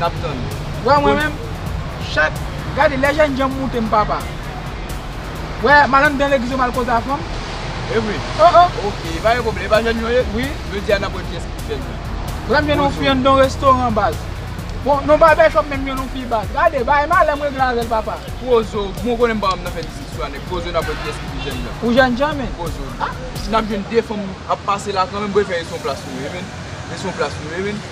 nap tann yo. Wè mwen menm chak gade lè jènjanm moutem papa wè malann dan legliz yo mal koze a fanm evre oh oh ok epa gen pwoblm epa jèn yo ye wi jodia nap wè kiyès ki pi jèn nan Lèm jwenn yon fi anndan yon restoran baz bon nan barbè shop menm m jwenn yon fi baz gade bagay malè m regle avèl papa. Pwozo bon konnen m pa konn nan fè dizis sou a nèg pwozo nap wè kiyès ki pi jèn nan Ou jèn jan menn pwozo nap jwenn 2 fanm ap pase la kanmenm bon efè rete yon plas nou ye menn rete yon plas nou ye menn.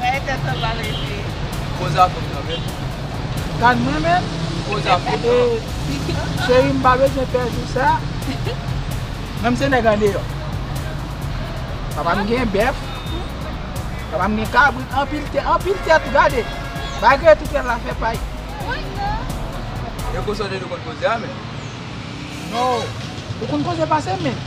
Rayi tèt anba rete. Koze a fòk nan men. Tann mwen menm. Koze a fòk nan men. Cheri m pa bezwen pè jou sa. Menm se nèg andeyò. Papa m gen bèf. Papa m gen kabrit. Anpil tè. Anpil tèt. Gade. Malgre tou tèt la fè pay. Woy non. Yo konsantre nou konn koze a menm. Non. Ou konn koze pase m menm.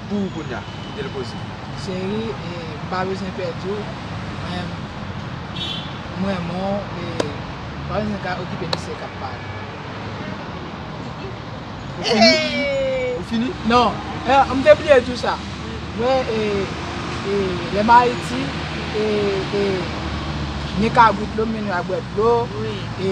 Pou ou kounya kite l poze. Cheri m pa bezwen pèdi w men m renmen w e m pa bezwen ka okipe misye kap pale. Ou fini? Non m te bliye di w sa mwen lè m ayiti e gen kabrit m mennen yo al bwè dlo e.